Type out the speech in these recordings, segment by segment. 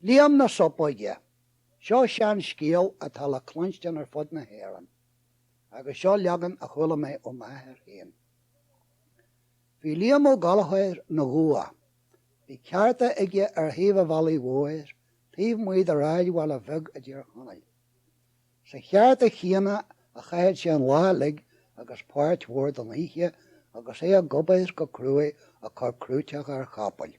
Liam na Sopóige. Seo seanscéal atá le cluinstean ar fud na hÉireann, agus seo leagan a chuala mé ó m'athair féin. Bhí Liam Ó Gallchóir ina ghabha. Bhí ceárta aige ar thaobh a' bhealaigh mhóir, taobh amuigh de shráidbhaile bheag i dTír Chonaill. Sa cheárta chéanna a chaithead sé an lá uilig agus páirt mhór den oíche agus é ag obair go cruaidh ag cur crúiteacha ar chapaill.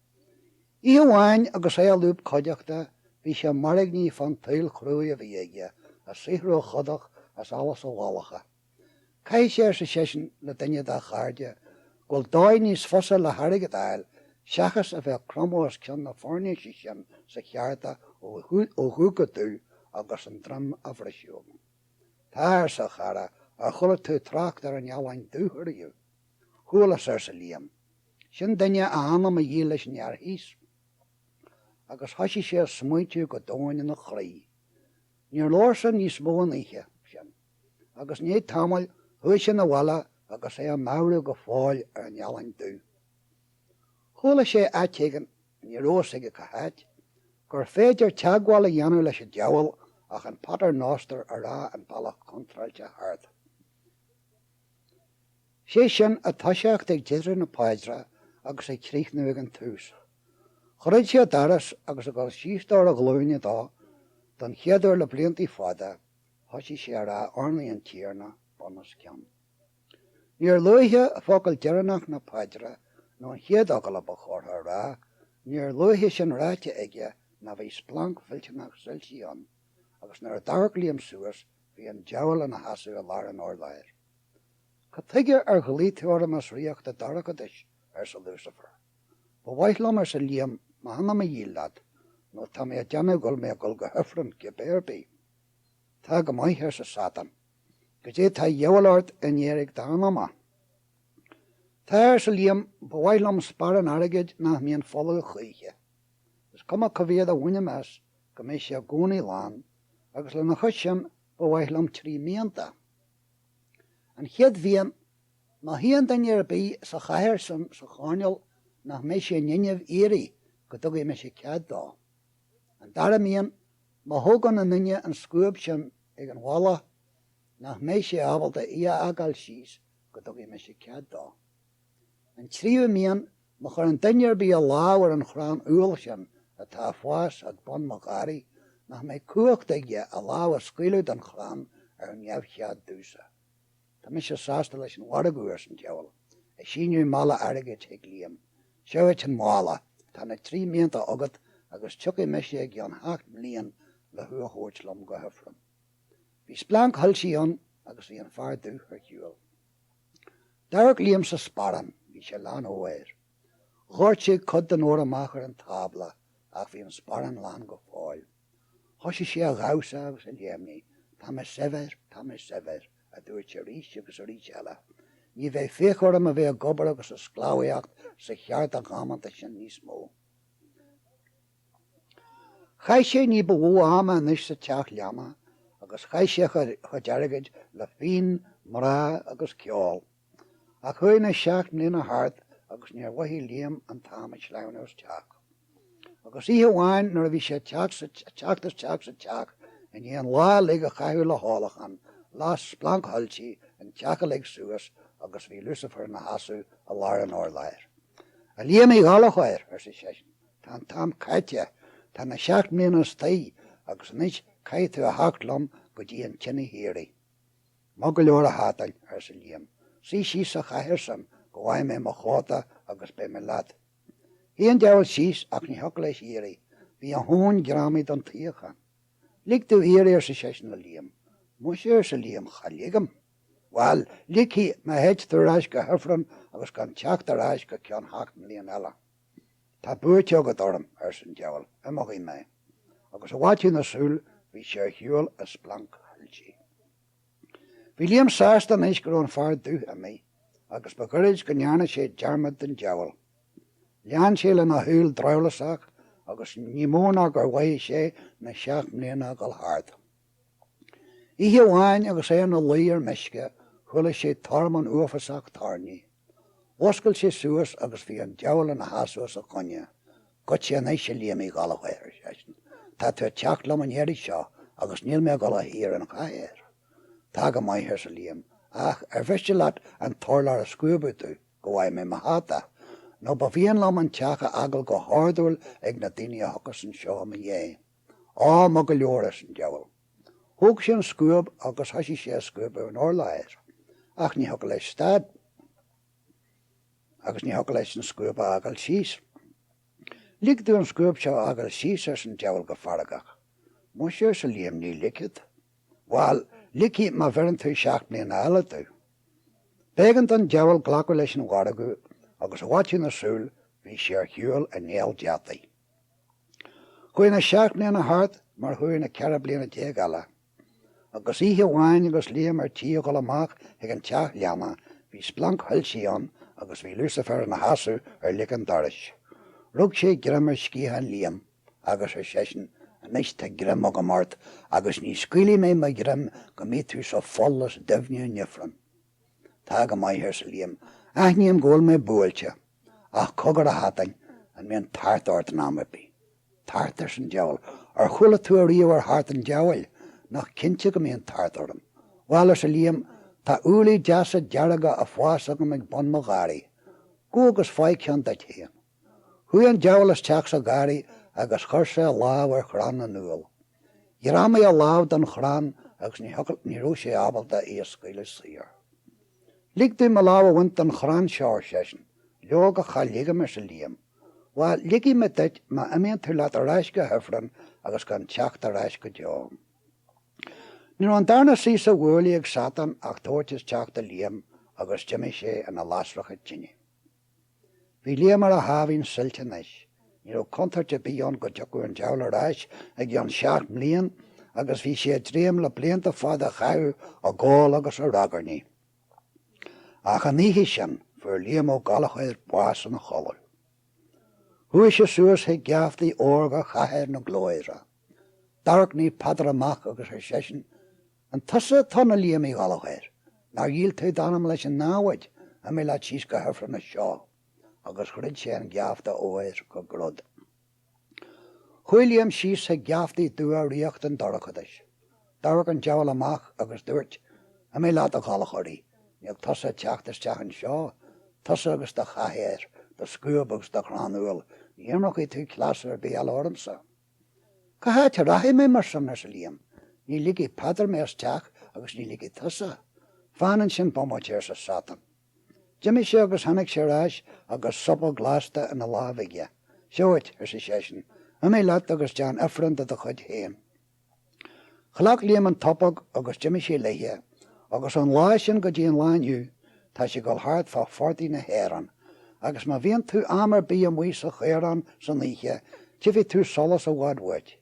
Oíche amháin agus é i lúb cuideachta bhí sé mairgní fán tsaol chruaidh a bhí aige, a saothródh a chodach as allas a mhalacha. Caithfidh sé, arsa seisean le duine dá chairde, go bhfuil dóigh níos fusa le hairgead a fháil seachas a bheith ag cromadh os cionn na foirnéise sin sa cheárta ó dhubh go dubh agus an droim á bhriseadh agam. Tá, arsa a chara, ar chuala tú trácht ar an ealaín dubh ariamh? Chualas, arsa Liam. Sin duine a anam a dhíol leis an fhear thíos agus thoisigh sé a smaointiú go domhain ina chroí. Níor labhair sé níos mó an oíche sin, agus i ndiaidh tamaill chuaigh sé 'na bhaile agus é ag meabhrú go fóill ar an ealaín dubh. Chuala sé áit éigin, ní rabh fhios aige cá háit, gur féidir teagmháil a dhéanamh leis an diabhal ach an Pater Noster a rá an bealach contráilte thart. sé sin ag toiseacht ag deireadh na paidre agus ag críochnú ag an tús. Dhruid sé a doras agus ag dul síos dó ar a ghlúine don chéad uair le blianta fada, thosaigh sé a rá Urnaí an Tiarna bunoscionn. Níor luaithe focal deireanach na paidre nó an chéad fhocal a ba chóra a rá, níor luaithe sin ráite aige ná bhí splanc mhillteanach soilsí ann agus nuair a d'amharc Liam suas, Bhí an diabhal ina sheasamh i lár an urláir. Cad tuige ar ghlaoigh tú orm as ríocht a' dorchadais? arsa Lúsaifir. Ba mhaith liom, arsa Liam, m'anam a dhíol leat, nó tá mé a' déanamh go bhfuil mé a' dhul go hIfrinn, cibé ar bith. Tá go maith, arsa Sátan. Goidé tá dhíobháil ort in éiric d'anama? Tá, arsa Liam, ba mhaith liom sparán airgid nach mbíonn folamh choíche. Is cuma cá mhéad a bhainim as, go mbeidh sé i gcónaí lán. agus lena chois sin ba mhaith liom trí mhianta. An chéad mhian, má shuíonn duine ar bith sa chathaoir san sa choirnéal nach mbeidh sé in inmhe éirí go dtugaidh mise cead dó. An dara mian, má thógann aon duine an scuab sin ag an bhalla nach mbeidh sé ábalta í a fhágáil síos go dtugaidh mise cead dó. An tríomhú mian, má chuireann duine ar bith a lámh ar an chrann úll sin atá ag fás ag bun mo gharraí, nach mbeidh cumhacht aige a lámh a scaoileadh den chrann ar neamhchead domhsa. Tá mise sásta leis an mhargadh, arsan diabhal, ag síneadh mála airgid chuig Liam. Seo dhuit an mála. Tá na trí mianta agat agus tiocfaidh mise i gceann sheacht mblian le thú a thabhairt liom go hIfreann. Bhí splanc shoilsí ann agus bhí an fear dubh ar shiúl. D'amharc Liam sa sparán. Bhí sé lán óir. Dhoirt sé cuid den ór amach ar an tábla ach bhí an sparán lán go fóill. Thosaigh sé a dhamhsa agus a léimnigh. Tá mé saibhir! Tá mé saibhir! a dúirt sé arís agus arís eile. Ní bheidh féichiú orm a bheith ag obair agus ag sclábhaíocht sa cheárta dhamanta sin níos mó. Chaith sé ní ba mhó ama anois sa teach leanna agus chaith sé a chuid airgid le fíon, mná agus ceol. Ach chuaigh na seacht mbliana thart agus níor mhothaigh Liam an t-am ag sleamhnú isteach. Agus oíche amháin nuair a bhí sé ag teacht isteach sa teach i ndiaidh an lá uilig a chaitheamh le hólachán, las splanc shoilsí an teach uilig suas agus bhí Lucifer ina sheasamh i lár an urláir. A Liam Uí Ghallchóir, arsa seisean. Tá an t-am caite, tá na seacht mbliana istigh agus anois caithfidh tú a theacht liom go dtí an tine shíoraí. Maith go leor, a Shátáin, arsa Liam, suigh síos sa chathaoir sin go bhfaighidh mé mo chóta agus beidh mé leat. Shuigh an diabhal síos ach ní thiocfadh leis éirí, bhí a thóin greamaithe don tsuíochán. Lig domh éirí, arsa seisean le Liam. Muise, arsa Liam, cha ligim. Bhail, ligfidh mé dhuit dul ar ais go hIfreann agus gan teacht ar ais go ceann sheacht mbliana eile. Tá buaite agat orm, arsa an diabhal, imeoidh mé. Agus i bhfaiteadh na súl bhí sé ar shiúl i splanc shoilsí. Bhí Liam sásta anois go raibh an fear dubh ar imeacht agus ba ghoirid go ndearna sé dearmad den diabhal. Lean sé lena shaol drabhlásach agus ní mó ná gur mhothaigh sé na seacht mbliana ag dul thart. Oíche amháin agus é ina luí ar meisce chuala sé tormán uafásach toirní. Mhuscail sé suas agus bhí an diabhal ina sheasamh os a choinne. Goitse anois, a Liam Uí Ghallchóir, ar seisean, tá tú ag teacht liom an iarraidh seo agus níl mé ag dul a shuí ar an chathaoir. Tá go maith, arsa Liam, ach ar mhiste leat an t-urlár a scuabadh domh go bhfaighidh mé mo hata, nó ba mhian liom an teach a fhágáil go hordúil ag na daoine a thiocfas anseo i mo dhiaidh. Á, maith go leor, arsa an diabhal. Thóg sé an scuab agus thoisigh sé a scuabadh an urláir, ach ní thiocfadh leis stad, agus ní thiocfadh leis an scuab a fhágáil síos. Lig domh an scuab seo a fhágáil síos, arsa an diabhal go feargach. Muise, arsa Liam, ní ligfead. Bhail, ligfidh má bheireann tú seacht mbliana eile domh. B'éigean don diabhal glacadh leis an mhargadh, agus i bhfaiteadh na súl bhí sé ar shiúl i néal deataigh. Chuaigh na seacht mbliana thart mar chuaigh na ceithre bliana déag eile. Agus oíche amháin agus Liam ar tí a dhul amach chuig an teach leanna, bhí splanc thoilsí ann agus bhí Lucifer ina sheasamh ar lic an dorais. Rug sé greim ar sciathán Liam agus ar seisean, Anois tá greim agam ort agus ní scaoilfidh mé mo ghreim go mbí tú sa pholl is doimhne in ifreann. Tá go maith, arsa Liam, aithním go bhfuil mé buailte. Ach cogar, a Shátain, an mbíonn tart ort in am ar bith? Tart? ars' an diabhal. Ar chuala tú ariamh ar thart an diabhail? Nach cinnte go mbíonn tart orm? Bhail, arsa Liam, tá úllaí deasa dearga a' fás agam ag bun mo gharraí. Gabh agus faigh ceann duit fhéin. Chuaigh an diabhal isteach sa gharraí agus chuir sé a lámh ar chrann an úill. Ghreamaigh a lámh don chrann agus ní raibh sé ábalta í a scaoileadh saor. 'Lig domh mo lámh a bhaint den chrann seo, ar seisean. 'Leoga, cha ligim, arsa Liam. 'Bhail, ligfidh mé duit má imíonn tú leat ar ais go hIfreann agus gan teacht ar ais go deo. Ní raibh an darna suí sa bhuaile ag Satán ach tabhairt isteach do Liam agus d'imigh sé ina lasracha tine. Bhí Liam ar a sháimhín suilt anois. Ní raibh contúirt ar bith ann go dtiocfadh an diabhal ar ais i gceann seacht mbliain agus bhí sé ag dréim le blianta fada a chaitheamh ag ól agus ag ragairne. Ach an oíche sin, fuair Liam Ó Gallchóir bás ina chodladh. Chuaigh sé suas chuig geaftaí órga Chathair na Glóire. D'amharc Naomh Peadar amach agus ar seisean, An tusa atá ann a Liam Uí Ghallachóir? Nár dhíol tú d'anam leis an námhaid? Imigh leat síos go hifreann as seo. Agus dhruid sé an geafta óir go grod. Chuaigh Liam síos chuig geaftaí dubha ríocht an dorchadais. D'amharc an diabhal amach agus dúirt, Imigh leat, a Ghallachóraigh. Níl tusa ag teacht isteach anseo, tusa agus do chathaoir, do scuab agus do chrann úll, ní imreochaidh tú cleas ar bith eile ormsa. Cá háit a rachaidh mé mar sin? arsa Liam. Ní ligfidh Peadar mé isteach agus ní ligfidh tusa. Fan ansin bomaite, arsa Satan. D'imigh sé agus tháinig sé ar ais agus sopóg lasta ina láimh aige. Seo dhuit, arsa seisean, imigh leat agus deán ifreann de do chuid féin. Ghlac Liam an tsopóg agus d'imigh sé léithe, agus ón lá sin go dtí an lá inniu, tá sé ag dul thart fá phortaigh na hÉireann, agus má bhíonn tú am ar bith amuigh sa chaorán san oíche, tifidh tú solas i bhfad uait.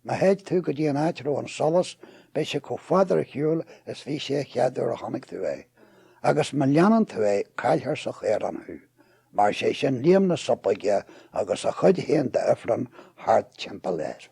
Má théid tú go dtí an áit a raibh an solas, beidh sé chomh fada ar shiúl is bhí sé an chéad uair a chonaic tú é, agus má leanann tú é, caillfear sa chaorán thú. Mar sé sin Liam na Sopóige agus a chuid féin d'Ifreann thart timpeall air.